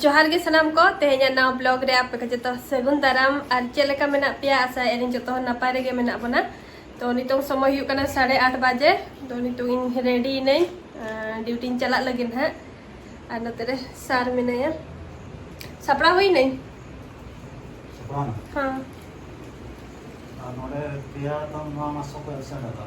ᱡᱚᱦᱟᱨ ᱜᱮ ᱥᱟᱱᱟᱢ ᱠᱚ ᱛᱮᱦᱮᱧ ᱱᱟᱣ ᱵᱞᱚᱜ ᱨᱮ ᱟᱯᱮ ᱠᱚ ᱡᱚᱛᱚ ᱥᱟᱹᱜᱩᱱ ᱫᱟᱨᱟᱢ ᱟᱨ ᱪᱮᱫ ᱞᱮᱠᱟ ᱢᱮᱱᱟᱜ ᱯᱮᱭᱟ ᱟᱥᱟ ᱮᱨᱤᱧ ᱡᱚᱛᱚ ᱦᱚᱲ ᱱᱟᱯᱟᱭ ᱨᱮᱜᱮ ᱢᱮᱱᱟᱜ ᱵᱚᱱᱟ ᱛᱚ ᱱᱤᱛᱚᱝ ᱥᱚᱢᱚᱭ ᱦᱩᱭᱩᱜ ᱠᱟᱱᱟ ᱥᱟᱲᱮ ᱟᱴ ᱵᱟᱡᱮ ᱛᱚ ᱱᱤᱛᱚᱝ ᱤᱧ ᱨᱮᱰᱤ ᱤᱱᱟᱹᱧ ᱰᱤᱭᱩᱴᱤᱧ ᱪᱟᱞᱟᱜ ᱞᱟᱹᱜᱤᱫ ᱦᱟᱸᱜ ᱟᱨ ᱱᱚᱛᱮ ᱨᱮ ᱥᱟᱨ ᱢᱮᱱᱟᱭᱟ ᱥᱟᱯᱲᱟᱣ ᱦᱩᱭ ᱤᱱᱟᱹᱧ ᱦᱮᱸ ᱱᱚᱰᱮ ᱯᱮᱭᱟ ᱫᱚ ᱱᱚᱣᱟ ᱢᱟᱥᱚ ᱠᱚ ᱮᱵᱥᱮᱱᱴ ᱟᱠᱟᱫᱟ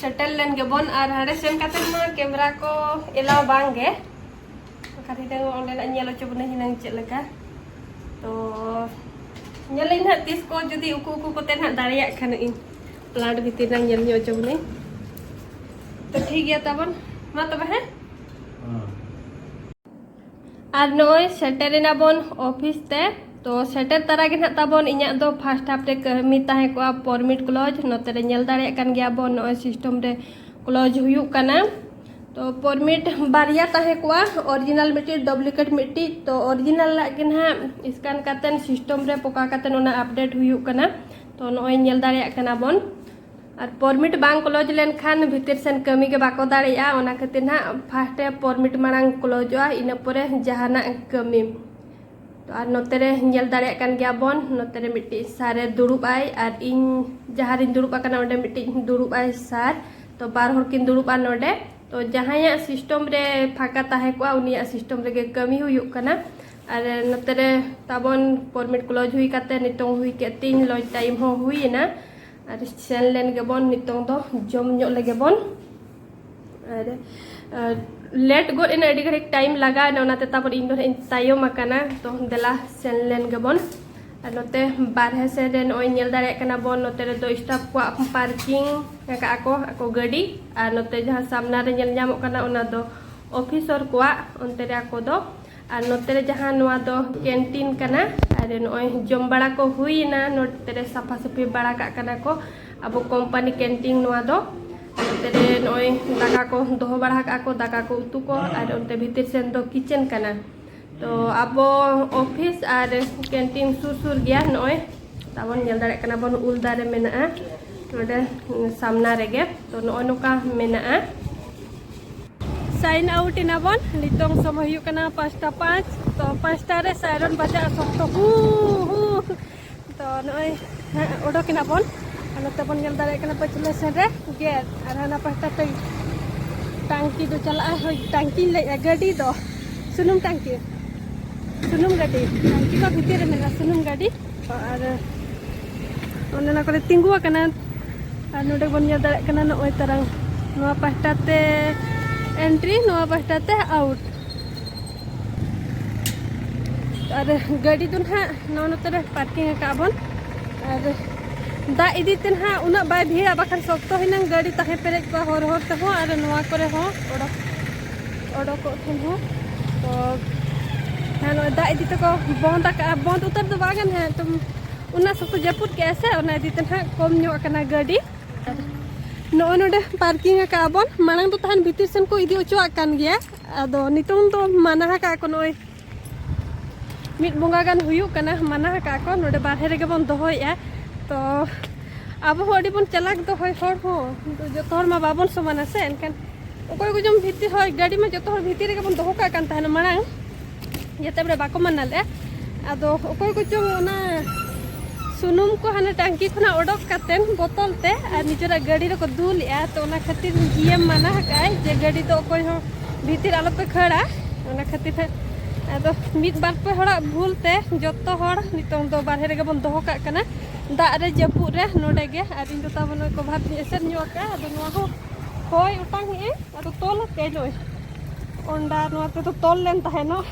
ᱥᱮᱴᱮᱞ ᱞᱮᱱ ᱜᱮᱵᱚᱱ ᱟᱨ ᱦᱟᱸᱰᱮ ᱥᱮᱱ ᱠᱟᱛᱮ ᱢᱟ ᱠᱮᱢᱨᱟ ᱠᱚ ᱮᱞᱟᱣ ᱵᱟᱝ ᱜᱮ ᱵᱟᱠᱷᱟᱱ ᱦᱤᱱᱟᱹᱝ ᱚᱸᱰᱮᱱᱟᱜ ᱧᱮᱞ ᱦᱚᱪᱚ ᱵᱚᱱᱟ ᱦᱤᱱᱟᱹᱝ ᱪᱮᱫ ᱞᱮᱠᱟ ᱛᱚ ᱧᱮᱞᱟᱹᱧ ᱱᱟᱦᱟᱜ ᱛᱤᱥ ᱠᱚ ᱡᱩᱫᱤ ᱩᱠᱩ ᱩᱠᱩ ᱠᱚᱛᱮ ᱱᱟᱦᱟᱜ ᱫᱟᱲᱮᱭᱟᱜ ᱠᱷᱟᱱ ᱤᱧ ᱯᱞᱟᱱᱴ ᱵᱷᱤᱛᱤᱨ ᱨᱮ ᱧᱮᱞ ᱧᱚᱜ ᱦᱚᱪᱚ ᱵᱚᱱᱟᱹᱧ ᱛᱚ ᱴᱷᱤᱠ ᱜᱮᱭᱟ ᱛᱟᱵᱚᱱ ᱢᱟ ᱛᱚᱵᱮ ᱦᱮᱸ ᱟᱨ ᱱᱚᱜᱼᱚᱭ ᱥᱮᱴᱮᱨᱮᱱᱟ ᱵᱚᱱ ᱚᱯᱷᱤᱥ ᱛᱮ ᱛᱚ ᱥᱮᱴᱮᱨ ᱛᱟᱨᱟ ᱜᱮ ᱱᱟᱜ ᱛᱟᱵᱚᱱ ᱤᱧᱟᱹᱜ ᱫᱚ ᱯᱷᱟᱥᱴ ᱦᱟᱯ ᱨᱮ ᱠᱟᱹᱢᱤ ᱛᱟᱦᱮᱸ ᱠᱚᱜᱼᱟ ᱯᱚᱨᱢᱤᱴ ᱠᱞᱚᱡᱽ ᱱᱚᱛᱮ ᱨᱮ ᱧᱮᱞ ᱫᱟᱲᱮᱭᱟᱜ ᱠᱟᱱ ᱜᱮᱭᱟ ᱵᱚᱱ ᱱᱚᱜᱼᱚᱭ ᱥᱤᱥᱴᱚᱢ ᱨᱮ ᱠᱞᱚᱡᱽ ᱦᱩᱭᱩᱜ ᱠᱟᱱᱟ ᱛᱚ ᱯᱚᱨᱢᱤᱴ ᱵᱟᱨᱭᱟ ᱛᱟᱦᱮᱸ ᱠᱚᱜᱼᱟ ᱚᱨᱤᱡᱤᱱᱟᱞ ᱢᱤᱫᱴᱤᱡ ᱰᱩᱯᱞᱤᱠᱮᱴ ᱢᱤᱫᱴᱤᱡ ᱛᱚ ᱚᱨᱤᱡᱤᱱᱟᱞ ᱞᱟᱜ ᱜᱮ ᱱᱟᱜ ᱥᱠᱟᱱ ᱠᱟᱛᱮᱱ ᱥᱤᱥᱴᱚᱢ ᱨᱮ ᱯᱚᱠᱟ ᱠᱟᱛᱮᱱ ᱚᱱᱟ ᱟᱯᱰᱮᱴ ᱦᱩᱭᱩᱜ ᱠᱟᱱᱟ ᱛᱚ ᱱᱚᱜᱼᱚᱭ ᱧᱮᱞ ᱫᱟᱲᱮᱭᱟᱜ ᱠᱟᱱᱟ ᱵᱚᱱ ᱟᱨ ᱯᱚᱨᱢᱤᱴ ᱵᱟᱝ ᱠᱞᱚᱡᱽ ᱞᱮᱱᱠᱷᱟᱱ ᱵᱷᱤᱛᱤᱨ ᱥᱮᱱ ᱠᱟᱹᱢᱤ ᱜᱮ ᱵᱟᱠᱚ ᱫᱟᱲᱮᱭᱟᱜᱼᱟ ᱚᱱᱟ ᱠᱷᱟᱹᱛᱤᱨ ᱱᱟᱜ ᱯᱷᱟᱥᱴ ᱨᱮ ᱯᱚᱨᱢᱤᱴ ᱢᱟᱲᱟᱝ ᱠᱞᱚᱡᱚᱜᱼᱟ ᱤᱱᱟᱹ ᱯᱚᱨᱮ ᱡᱟᱦᱟᱱᱟᱜ ᱠᱟᱹᱢᱤ ᱛᱚ ᱟᱨ ᱱᱚᱛᱮ ᱨᱮ ᱧᱮᱞ ᱫᱟᱲᱮᱭᱟᱜ ᱠᱟᱱ ᱜᱮᱭᱟ ᱵᱚᱱ ᱱᱚᱛᱮ ᱨᱮ ᱢᱤᱫᱴᱤᱡ ᱥᱟᱨᱮ ᱫᱩᱲᱩᱵ ᱟᱭ ᱟᱨ ᱤᱧ ᱡᱟᱦᱟᱸ ᱨᱤᱧ ᱫᱩᱲᱩᱵ ᱟᱠᱟᱱᱟ ᱚᱸᱰᱮ ᱢᱤᱫᱴᱤᱡ ᱫᱩᱲᱩᱵ ᱟᱭ ᱥᱟᱨ ᱛᱚ ᱵᱟᱨ ᱦᱚᱲ ᱠᱤᱱ ᱫᱩᱲᱩᱵᱼᱟ ᱱᱚᱰᱮ ᱛᱚ ᱡᱟᱦᱟᱸᱭᱟᱜ ᱥᱤᱥᱴᱚᱢ ᱨᱮ ᱯᱷᱟᱸᱠᱟ ᱛᱟᱦᱮᱸ ᱠᱚᱜᱼᱟ ᱩᱱᱤᱭᱟᱜ ᱥᱤᱥᱴᱚᱢ ᱨᱮᱜᱮ ᱠᱟᱹᱢᱤ ᱦᱩᱭᱩᱜ ᱠᱟᱱᱟ ᱟᱨ ᱱᱚᱛᱮ ᱨᱮ ᱛᱟᱵᱚᱱ ᱯᱚᱨᱢᱤᱴ ᱠᱞᱚᱡᱽ ᱦᱩᱭ ᱠᱟᱛᱮ ᱱᱤᱛᱚᱝ ᱦᱩᱭ ᱠᱮᱫ ᱛᱤᱧ ᱞᱚᱡᱽ ᱴᱟᱭᱤᱢ ᱦᱚᱸ ᱦᱩᱭᱮᱱᱟ ᱟᱨ ᱥᱮᱱ ᱞᱮᱱ ᱜᱮᱵᱚᱱ ᱱᱤᱛᱚᱝ ᱫᱚ ᱡᱚᱢ ᱧᱚᱜ ᱞᱮᱜᱮ ᱵᱚᱱ ᱟᱨ ᱞᱮᱴ ᱜᱚᱫ ᱮᱱᱟ ᱟᱹᱰᱤ ᱜᱷᱟᱹᱲᱤᱡ ᱴᱟᱭᱤᱢ ᱞᱟᱜᱟᱣ ᱮᱱᱟ ᱚᱱᱟᱛᱮ ᱛᱟᱯᱚᱨ ᱤᱧ ᱫᱚ ᱤᱧ ᱛᱟᱭᱚᱢ ᱟᱠᱟᱱᱟ ᱛᱚ ᱫᱮᱞᱟ ᱥᱮᱱ ᱞᱮᱱ ᱜᱮᱵᱚᱱ ᱟᱨ ᱱᱚᱛᱮ ᱵᱟᱨᱦᱮ ᱥᱮᱱ ᱨᱮ ᱱᱚᱜᱼᱚᱭ ᱧᱮᱞ ᱫᱟᱲᱮᱭᱟᱜ ᱠᱟᱱᱟ ᱵᱚᱱ ᱱᱚᱛᱮ ᱨᱮᱫᱚ ᱥᱴᱟᱯ ᱠᱚᱣᱟᱜ ᱯᱟᱨᱠᱤᱝ ᱟᱠᱟᱫ ᱟᱠᱚ ᱟᱠᱚ ᱜᱟᱹᱰᱤ ᱟᱨ ᱱᱚᱛᱮ ᱡᱟᱦᱟᱸ ᱥᱟᱢᱱᱟ ᱨᱮ ᱧᱮᱞ ᱧᱟᱢᱚᱜ ᱠᱟᱱᱟ ᱚᱱᱟ ᱫᱚ ᱚᱯᱷᱤᱥᱚᱨ ᱠᱚᱣᱟᱜ ᱚᱱᱛᱮ ᱨᱮ ᱟᱠᱚ ᱫᱚ ᱟᱨ ᱱᱚᱛᱮ ᱨᱮ ᱡᱟᱦᱟᱸ ᱱᱚᱣᱟ ᱫᱚ ᱠᱮᱱᱴᱤᱱ ᱠᱟᱱᱟ ᱟᱨ ᱱᱚᱜᱼᱚᱭ ᱡᱚᱢ ᱵᱟᱲᱟ ᱠᱚ ᱦᱩᱭᱮᱱᱟ ᱱᱚᱛᱮ ᱨᱮ ᱥᱟᱯᱷᱟ ᱥᱟᱹᱯᱷᱤ ᱵᱟᱲᱟ ᱠᱟᱜ ᱠᱟᱱᱟ ᱠᱚ ᱟᱵᱚ ᱠᱳᱢᱯᱟᱱᱤ ᱠᱮᱱᱴᱤᱱ ᱱᱚᱣᱟ ᱫᱚ ᱱᱚᱛᱮ ᱨᱮ ᱱᱚᱜᱼᱚᱭ ᱫᱟᱠᱟ ᱠᱚ ᱫᱚᱦᱚ ᱵᱟᱲᱟ ᱠᱟᱜᱼᱟ ᱠᱚ ᱫᱟᱠᱟ ᱠᱚ ᱩᱛᱩ ᱠᱚ ᱟᱨ ᱚᱱᱛᱮ ᱵᱷᱤᱛᱤᱨ ᱥᱮᱱ ᱫᱚ ᱠᱤᱪᱮᱱ ᱠᱟᱱᱟ ᱛᱚ ᱟᱵᱚ ᱚᱯᱷᱤᱥ ᱟᱨ ᱠᱮᱱᱴᱤᱱ ᱥᱩᱨ ᱥᱩᱨ ᱜᱮᱭᱟ ᱱᱚᱜᱼᱚᱭ ᱛᱟᱵᱚᱱ ᱧᱮᱞ ᱫᱟᱲᱮᱭᱟᱜ ᱠᱟᱱᱟ ᱵᱚᱱ ᱩᱞ ᱫᱟᱨᱮ ᱢᱮᱱᱟᱜᱼᱟ ᱱᱚᱰᱮ ᱥᱟᱢᱱᱟ ᱨᱮᱜᱮ ᱛᱚ ᱱᱚᱜᱼᱚᱭ ᱱᱚᱝᱠᱟ ᱢᱮᱱᱟᱜᱼᱟ ᱥᱟᱭᱤᱱ ᱟᱣᱩᱴ ᱮᱱᱟ ᱵᱚᱱ ᱱᱤᱛᱚᱝ ᱥᱚᱢᱚᱭ ᱦᱩᱭᱩᱜ ᱠᱟᱱᱟ ᱯᱟᱸᱪᱴᱟ ᱯᱟᱸᱪ ᱛᱚ ᱯᱟᱸᱪᱴᱟ ᱨᱮ ᱥᱟᱭᱨᱚᱱ ᱵᱟᱡᱟᱜᱼᱟ ᱥᱚᱠᱛᱚ ᱦᱩ ᱦᱩ ᱛᱚ ᱱᱚᱜᱼᱚᱭ ᱚᱰᱚᱠ ᱮᱱᱟ ᱵᱚᱱ ᱟᱨ ᱱᱚᱛᱮ ᱵᱚᱱ ᱧᱮᱞ ᱫᱟᱲᱮᱭᱟᱜ ᱠᱟᱱᱟ ᱯᱟᱹᱪᱷᱞᱟᱹ ᱥᱮᱱ ᱨᱮ ᱜᱮᱴ ᱟᱨ ᱦᱟᱱᱟ ᱯᱟᱦᱴᱟ ᱛᱮ ᱴᱟᱝᱠᱤ ᱫᱚ ᱪᱟᱞᱟᱜᱼᱟ ᱦᱳᱭ ᱴᱟᱝᱠᱤᱧ ᱞᱟᱹᱭᱮᱫᱼᱟ ᱜᱟᱹᱰᱤ ᱫᱚ ᱥᱩᱱᱩᱢ ᱴᱟᱝᱠᱤ ᱥᱩᱱᱩᱢ ᱜᱟᱹᱰᱤ ᱴᱟᱝᱠᱤ ᱠᱚ ᱵᱷᱤᱛᱤᱨ ᱨᱮ ᱢᱮᱱᱟᱜᱼᱟ ᱥᱩᱱᱩᱢ ᱜᱟᱹᱰᱤ ᱟᱨ ᱚᱱᱟ ᱠᱚᱨᱮ ᱛᱤᱸᱜᱩ ᱟᱠᱟᱱᱟ ᱟᱨ ᱱᱚᱰᱮ ᱵᱚᱱ ᱧᱮᱞ ᱫᱟᱲᱮᱭᱟᱜ ᱠᱟᱱᱟ ᱱᱚᱜᱼᱚᱭ ᱛᱟᱨᱟᱝ ᱱᱚᱣᱟ ᱯᱟᱦᱴᱟ ᱛᱮ ᱮᱱᱴᱨᱤ ᱱᱚᱣᱟ ᱯᱟᱦᱴᱟ ᱛᱮ ᱟᱣᱩᱴ ᱟᱨ ᱜᱟᱹᱰᱤ ᱫᱚ ᱱᱟᱦᱟᱜ ᱱᱚᱣᱟ ᱱᱚᱛᱮ ᱨᱮ ᱯᱟᱨᱠᱤᱝ ᱟᱠᱟᱫ ᱵᱚᱱ ᱟᱨ ᱫᱟᱜ ᱤᱫᱤ ᱛᱮ ᱱᱟᱦᱟᱜ ᱩᱱᱟᱹᱜ ᱵᱟᱭ ᱵᱷᱤᱲᱟ ᱵᱟᱠᱷᱟᱱ ᱥᱚᱠᱛᱚ ᱦᱤᱱᱟᱹᱝ ᱜᱟᱹᱰᱤ ᱛᱟᱦᱮᱸ ᱯᱮᱨᱮᱡ ᱠᱚᱜᱼᱟ ᱦᱚᱨ ᱦᱚᱨ ᱛᱮᱦᱚᱸ ᱟᱨ ᱱᱚᱣᱟ ᱠᱚᱨᱮ ᱦᱚᱸ ᱚᱰᱚᱠ ᱚᱰᱚᱠᱚᱜ ᱴᱷᱮᱱ ᱦᱚᱸ ᱛᱚ ᱦᱮᱸ ᱱᱚᱜᱼᱚᱭ ᱫᱟᱜ ᱤᱫᱤ ᱛᱮᱠᱚ ᱵᱚᱱᱫ ᱟᱠᱟᱜᱼᱟ ᱵᱚᱱᱫ ᱩᱛᱟᱹᱨ ᱫᱚ ᱵᱟᱝ ᱠᱟᱱᱟ ᱛᱚ ᱚᱱᱟ ᱥᱚᱠᱛᱚ ᱡᱟᱹᱯᱩᱫ ᱠᱮᱜᱼᱟ ᱥᱮ ᱚᱱᱟ ᱤᱫᱤ ᱛᱮ ᱱᱟᱦᱟᱜ ᱠᱚᱢ ᱧᱚᱜ ᱟᱠᱟᱱᱟ ᱜᱟᱹᱰᱤ ᱟᱨ ᱱᱚᱜᱼᱚᱭ ᱱᱚᱰᱮ ᱯᱟᱨᱠᱤᱝ ᱟᱠᱟᱜᱼᱟ ᱵᱚᱱ ᱢᱟᱲᱟᱝ ᱫᱚ ᱛᱟᱦᱮᱱ ᱵᱷᱤᱛᱤᱨ ᱥᱮᱱ ᱠᱚ ᱤᱫᱤ ᱦᱚᱪᱚᱣᱟᱜ ᱠᱟᱱ ᱜᱮᱭᱟ ᱟᱫᱚ ᱱᱤᱛᱚᱝ ᱫᱚ ᱢᱟᱱᱟ ᱟᱠᱟᱜᱼᱟ ᱠᱚ ᱱᱚᱜᱼᱚᱭ ᱢᱤᱫ ᱵᱚᱸᱜᱟ ᱜᱟᱱ ᱦᱩᱭᱩᱜ ᱠᱟᱱᱟ ᱢᱟᱱᱟ ᱟᱠᱟᱫ ᱠᱚ ᱱᱚᱰᱮ ᱵᱟᱨᱦᱮ ᱨᱮᱜᱮ ᱵᱚᱱ ᱫᱚᱦᱚᱭᱮᱜᱼᱟ ᱛᱚ ᱟᱵᱚ ᱦᱚᱸ ᱟᱹᱰᱤ ᱵᱚᱱ ᱪᱟᱞᱟᱠ ᱫᱚ ᱦᱚᱭ ᱦᱚᱲ ᱦᱚᱸ ᱡᱚᱛᱚ ᱦᱚᱲ ᱢᱟ ᱵᱟᱵᱚᱱ ᱥᱚᱢᱟᱱᱟ ᱥᱮ ᱮᱱᱠᱷᱟᱱ ᱚᱠᱚᱭ ᱠᱚ ᱡᱚᱢ ᱵᱷᱤᱛᱤᱨ ᱦᱚᱭ ᱜᱟᱹᱰᱤ ᱢᱟ ᱡᱚᱛᱚ ᱦᱚᱲ ᱵᱷᱤᱛᱤᱨ ᱨᱮᱜᱮ ᱵᱚᱱ ᱫᱚᱦᱚ ᱠᱟᱜ ᱠᱟᱱ ᱛᱟᱦᱮᱱᱟ ᱢᱟᱲᱟᱝ ᱡᱟᱛᱮ ᱵᱚᱞᱮ ᱵᱟᱠᱚ ᱢᱟᱱᱟ ᱞᱮᱫᱼᱟ ᱟᱫᱚ ᱚᱠᱚᱭ ᱠᱚ ᱪᱚᱝ ᱚᱱᱟ ᱥᱩᱱᱩᱢ ᱠᱚ ᱦᱟᱱᱮ ᱴᱟᱝᱠᱤ ᱠᱷᱚᱱᱟᱜ ᱚᱰᱚᱠ ᱠᱟᱛᱮᱱ ᱵᱚᱛᱚᱞ ᱛᱮ ᱟᱨ ᱱᱤᱡᱮᱨᱟᱜ ᱜᱟᱹᱰᱤ ᱨᱮᱠᱚ ᱫᱩᱞᱮᱜᱼᱟ ᱛᱚ ᱚᱱᱟ ᱠᱷᱟᱹᱛᱤᱨ ᱡᱤᱭᱮᱢ ᱢᱟᱱᱟ ᱟᱠᱟᱫᱼᱟᱭ ᱡᱮ ᱜᱟᱹᱰᱤ ᱫᱚ ᱚᱠᱚᱭ ᱦᱚᱸ ᱵᱷᱤᱛᱤᱨ ᱟᱞᱚ ᱯᱮ ᱠᱷᱟᱹᱲᱟ ᱚᱱᱟ ᱠᱷᱟᱹᱛᱤᱨ ᱦᱟᱸᱜ ᱟᱫᱚ ᱢᱤᱫ ᱵᱟᱨ ᱯᱮ ᱦᱚᱲᱟᱜ ᱵᱷᱩᱞ ᱛᱮ ᱡᱚᱛᱚ ᱦᱚᱲ ᱱᱤᱛᱚᱝ ᱫᱚ ᱵᱟᱨᱦᱮ ᱨᱮᱜᱮ ᱵᱚᱱ ᱫᱚᱦᱚ ᱠᱟᱜ ᱠᱟᱱᱟ ᱫᱟᱜ ᱨᱮ ᱡᱟᱹᱯᱩᱫ ᱨᱮ ᱱᱚᱰᱮ ᱜᱮ ᱟᱨ ᱤᱧ ᱫᱚ ᱛᱟᱵᱚᱱ ᱱᱚᱜᱼᱚᱭ ᱠᱚᱵᱷᱟᱨ ᱛᱤᱧ ᱮᱥᱮᱫ ᱧᱚᱜ ᱠᱟᱜᱼᱟ ᱟᱫᱚ ᱱᱚᱣᱟ ᱦᱚᱸ ᱦᱚᱭ ᱚᱴᱟᱝ ᱮᱜᱼᱟᱭ ᱟᱫᱚ ᱛᱚᱞ ᱟᱠᱟᱫ ᱱᱚᱜᱼᱚᱭ ᱚᱱᱰᱟ ᱱᱚᱣᱟ ᱛᱮᱫᱚ ᱛᱚᱞ ᱞᱮᱱ ᱛᱟᱦᱮᱱᱚᱜ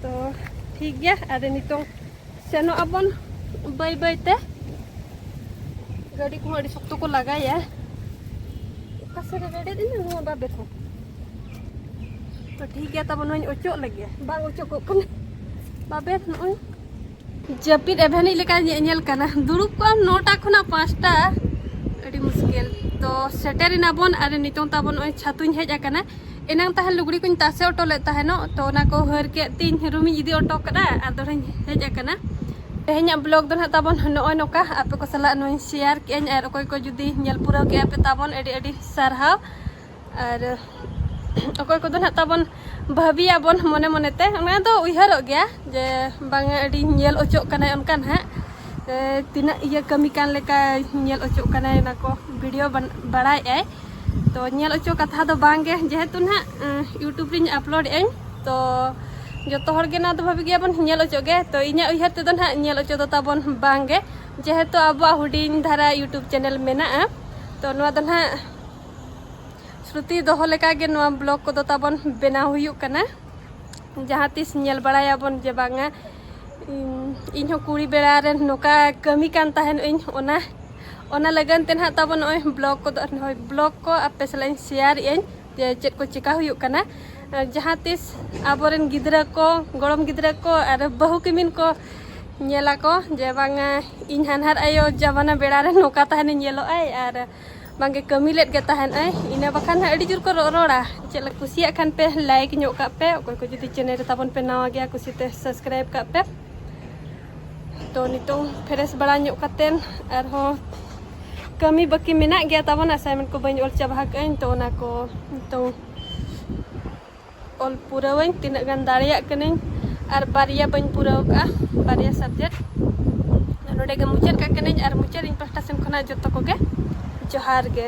ᱛᱚ ᱴᱷᱤᱠ ᱜᱮᱭᱟ ᱟᱨ ᱱᱤᱛᱚᱝ ᱥᱮᱱᱚᱜ ᱟᱵᱚᱱ ᱵᱟᱹᱭ ᱵᱟᱹᱭ ᱛᱮ ᱜᱟᱹᱰᱤ ᱠᱚᱦᱚᱸ ᱟᱹᱰᱤ ᱥᱚᱠᱛᱚ ᱠᱚ ᱞᱟᱜᱟᱭᱟ ᱚᱠᱟ ᱥᱮᱫ ᱨᱮ ᱜᱟᱹᱰᱤ ᱫᱤᱱᱟ ᱱᱚᱣᱟ ᱵᱟᱵᱮ ᱠᱚ ᱛᱚ ᱴᱷᱤᱠ ᱜᱮᱭᱟ ᱛᱟᱵᱚᱱ ᱱᱚᱣᱟᱧ ᱚᱪᱚᱜ ᱞᱟᱹᱜᱤᱫ ᱵᱟᱝ ᱚᱪᱚᱜᱚᱜ ᱠᱟᱱᱟ ᱵᱟᱵᱮ ᱱᱚᱜᱼᱚᱭ ᱡᱟᱹᱯᱤᱫ ᱮᱵᱷᱮᱱᱤᱡ ᱞᱮᱠᱟ ᱧᱮᱧᱮᱞ ᱠᱟᱱᱟ ᱫᱩᱲᱩᱵ ᱠᱚᱜ ᱟᱢ ᱱᱚᱴᱟ ᱠᱷᱚᱱᱟᱜ ᱯᱟᱸᱪᱴᱟ ᱟᱹᱰᱤ ᱢᱩᱥᱠᱤᱞ ᱛᱚ ᱥᱮᱴᱮᱨ ᱮᱱᱟᱵᱚᱱ ᱟᱨ ᱱᱤᱛᱚᱝ ᱛᱟᱵᱚᱱ ᱱᱚᱜᱼᱚᱭ ᱪᱷᱟᱛᱩᱧ ᱦᱮᱡ ᱟᱠᱟᱱᱟ ᱮᱱᱟᱝ ᱛᱟᱦᱮᱱ ᱞᱩᱜᱽᱲᱤ ᱠᱚᱧ ᱛᱟᱥᱮ ᱚᱴᱚ ᱞᱮᱫ ᱛᱟᱦᱮᱱᱚᱜ ᱛᱚ ᱚᱱᱟ ᱠᱚ ᱦᱟᱹᱨ ᱠᱮᱫ ᱛᱤᱧ ᱨᱩᱢᱤᱧ ᱤᱫᱤ ᱚᱴᱚ ᱠᱟᱫᱟ ᱟᱨ ᱫᱚᱲᱦᱟᱧ ᱦᱮᱡ ᱟᱠᱟᱱᱟ ᱛᱮᱦᱮᱧᱟᱜ ᱵᱞᱚᱜ ᱫᱚ ᱱᱟᱦᱟᱜ ᱛᱟᱵᱚᱱ ᱱᱚᱜᱼᱚᱭ ᱱᱚᱝᱠᱟ ᱟᱯᱮ ᱠᱚ ᱥᱟᱞᱟᱜ ᱱᱚᱣᱟᱧ ᱥᱮᱭᱟᱨ ᱠᱮᱜᱼᱟᱹᱧ ᱟᱨ ᱚᱠᱚᱭ ᱠᱚ ᱡᱩᱫᱤ ᱧᱮᱞ ᱯᱩᱨᱟᱹᱣ ᱠᱮᱜᱼᱟ ᱯᱮ ᱛᱟᱵᱚᱱ ᱟᱹᱰᱤ ᱟᱹᱰᱤ ᱥᱟᱨᱦᱟᱣ ᱟᱨ ᱚᱠᱚᱭ ᱠᱚᱫᱚ ᱱᱟᱦᱟᱜ ᱛᱟᱵᱚᱱ ᱵᱷᱟᱹᱵᱤᱭᱟᱵᱚᱱ ᱢᱚᱱᱮ ᱢᱚᱱᱮᱛᱮ ᱚᱱᱟ ᱫᱚ ᱩᱭᱦᱟᱹᱨᱚᱜ ᱜᱮᱭᱟ ᱡᱮ ᱵᱟᱝᱟ ᱟᱹᱰᱤ ᱧᱮᱞ ᱚᱪᱚᱜ ᱠᱟᱱᱟᱭ ᱚᱱᱠᱟ ᱱᱟᱦᱟᱜ ᱛᱤᱱᱟᱹᱜ ᱤᱭᱟᱹ ᱠᱟᱹᱢᱤ ᱠᱟᱱ ᱞᱮᱠᱟ ᱧᱮᱞ ᱚᱪᱚᱜ ᱠᱟᱱᱟᱭ ᱚᱱᱟ ᱠᱚ ᱵᱷᱤᱰᱤᱭᱳ ᱵᱟᱲᱟᱭᱮᱜᱼᱟᱭ ᱛᱚ ᱧᱮᱞ ᱚᱪᱚ ᱠᱟᱛᱷᱟ ᱫᱚ ᱵᱟᱝ ᱜᱮ ᱡᱮᱦᱮᱛᱩ ᱱᱟᱜ ᱤᱭᱩᱴᱩᱵᱽ ᱨᱤᱧ ᱟᱯᱞᱳᱰ ᱮᱫᱟᱹᱧ ᱛᱚ ᱡᱚᱛᱚ ᱦᱚᱲ ᱜᱮ ᱱᱚᱣᱟ ᱫᱚ ᱵᱷᱟᱵᱤ ᱜᱮᱭᱟᱵᱚᱱ ᱧᱮᱞ ᱚᱪᱚ ᱜᱮ ᱛᱚ ᱤᱧᱟᱹᱜ ᱩᱭᱦᱟᱹᱨ ᱛᱮᱫᱚ ᱱᱟᱜ ᱧᱮᱞ ᱚᱪᱚ ᱫᱚ ᱛᱟᱵᱚᱱ ᱵᱟᱝ ᱜᱮ ᱡᱮᱦᱮᱛᱩ ᱟᱵᱚᱣᱟᱜ ᱦᱩᱰᱤᱧ ᱫᱷᱟᱨᱟ ᱤᱭᱩᱴᱩᱵᱽ ᱪᱮᱱᱮᱞ ᱢᱮᱱᱟᱜᱼᱟ ᱛᱚ ᱱᱚᱣᱟ ᱫᱚ ᱱᱟᱜ ᱥᱨᱩᱛᱤ ᱫᱚᱦᱚ ᱞᱮᱠᱟ ᱜᱮ ᱱᱚᱣᱟ ᱵᱞᱚᱜ ᱠᱚᱫᱚ ᱛᱟᱵᱚᱱ ᱵᱮᱱᱟᱣ ᱦᱩᱭᱩᱜ ᱠᱟᱱᱟ ᱡᱟᱦᱟᱸ ᱛᱤᱥ ᱧᱮᱞ ᱵᱟᱲᱟᱭᱟᱵᱚᱱ ᱡᱮ ᱵᱟᱝᱟ ᱤᱧ ᱦᱚᱸ ᱠᱩᱲᱤ ᱵᱮᱲᱟ ᱨᱮ ᱱᱚᱝᱠᱟ ᱠᱟᱹᱢᱤ ᱠᱟᱱ ᱛᱟᱦᱮᱱ ᱤᱧ ᱚᱱᱟ ᱚᱱᱟ ᱞᱟᱹᱜᱤᱫ ᱛᱮ ᱱᱟᱦᱟᱜ ᱛᱟᱵᱚ ᱱᱚᱜᱼᱚᱭ ᱵᱞᱚᱜ ᱠᱚᱫᱚ ᱱᱚᱜᱼᱚᱭ ᱵᱞᱚᱜ ᱠᱚ ᱟᱯᱮ ᱥᱟᱞᱟᱜ ᱤᱧ ᱥᱮᱭᱟᱨ ᱮᱫ ᱟᱹᱧ ᱡᱮ ᱪᱮᱫ ᱠᱚ ᱪᱮᱠᱟ ᱦᱩᱭᱩᱜ ᱠᱟᱱᱟ ᱡᱟᱦᱟᱸ ᱛᱤᱥ ᱟᱵᱚᱨᱮᱱ ᱜᱤᱫᱽᱨᱟᱹ ᱠᱚ ᱜᱚᱲᱚᱢ ᱜᱤᱫᱽᱨᱟᱹ ᱠᱚ ᱟᱨ ᱵᱟᱹᱦᱩ ᱠᱤᱢᱤᱱ ᱠᱚ ᱧᱮᱞᱟᱠᱚ ᱡᱮ ᱵᱟᱝᱟ ᱤᱧ ᱦᱟᱱᱦᱟᱨ ᱟᱭᱳ ᱡᱟᱢᱟᱱᱟ ᱵᱮᱲᱟ ᱨᱮ ᱱᱚᱝᱠᱟ ᱛᱟᱦᱮᱱᱤᱧ ᱧᱮᱞᱚᱜ ᱟᱭ ᱟᱨ ᱵᱟᱝᱜᱮ ᱠᱟᱹᱢᱤ ᱞᱮᱫ ᱜᱮ ᱛᱟᱦᱮᱱ ᱟᱭ ᱤᱱᱟᱹ ᱵᱟᱠᱷᱟᱱ ᱦᱟᱸᱜ ᱟᱹᱰᱤ ᱡᱳᱨ ᱠᱚ ᱨᱚᱲᱟ ᱪᱮᱫ ᱞᱮᱠᱟ ᱠᱩᱥᱤᱭᱟᱜ ᱠᱷᱟᱱ ᱯᱮ ᱞᱟᱭᱤᱠ ᱧᱚᱜ ᱠᱟᱜ ᱯᱮ ᱚᱠᱚᱭ ᱠᱚ ᱡᱩᱫᱤ ᱪᱮᱱᱮᱞ ᱨᱮ ᱛᱟᱵᱚᱱ ᱯᱮ ᱱᱟᱣᱟ ᱜᱮᱭᱟ ᱠᱩᱥᱤᱛᱮ ᱥᱟᱵᱥᱠᱨᱟᱭᱤᱵ ᱠᱟᱜ ᱯᱮ ᱛᱚ ᱱᱤᱛᱚᱝ ᱯᱷᱨᱮᱥ ᱵᱟᱲᱟ ᱧᱚᱜ ᱠᱟᱛᱮᱱ ᱟᱨᱦᱚᱸ ᱠᱟᱹᱢᱤ ᱵᱟᱹᱠᱤ ᱢᱮᱱᱟᱜ ᱜᱮᱭᱟ ᱛᱟᱵᱚᱱ ᱟᱥᱟᱭᱱᱢᱮᱱᱴ ᱠᱚ ᱵᱟᱹᱧ ᱚᱞ ᱪᱟᱵᱟ ᱟᱠᱟᱫᱟᱹᱧ ᱛᱚ ᱚᱱᱟ ᱠᱚ ᱱᱤᱛᱚᱝ ᱚᱞ ᱯᱩᱨᱟᱹᱣᱟᱹᱧ ᱛᱤᱱᱟᱹᱜ ᱜᱟᱱ ᱫᱟᱲᱮᱭᱟᱜ ᱠᱟᱹᱱᱟᱹᱧ ᱟᱨ ᱵᱟᱨᱭᱟ ᱵᱟᱹᱧ ᱯᱩᱨᱟᱹᱣ ᱠᱟᱜᱼᱟ ᱵᱟᱨᱭᱟ ᱥᱟᱵᱡᱮᱠᱴ ᱱᱚᱰᱮ ᱜᱮ ᱢᱩᱪᱟᱹᱫ ᱠᱟᱜ ᱠᱟᱹᱱᱟᱹᱧ ᱟᱨ ᱢᱩᱪᱟᱹᱫ ᱤᱧ ᱯᱟᱦᱴᱟ ᱥᱮᱱ ᱠᱷᱚᱱᱟᱜ ᱡᱚᱛᱚ ᱠᱚᱜᱮ ᱡᱚᱦᱟᱨ ᱜᱮ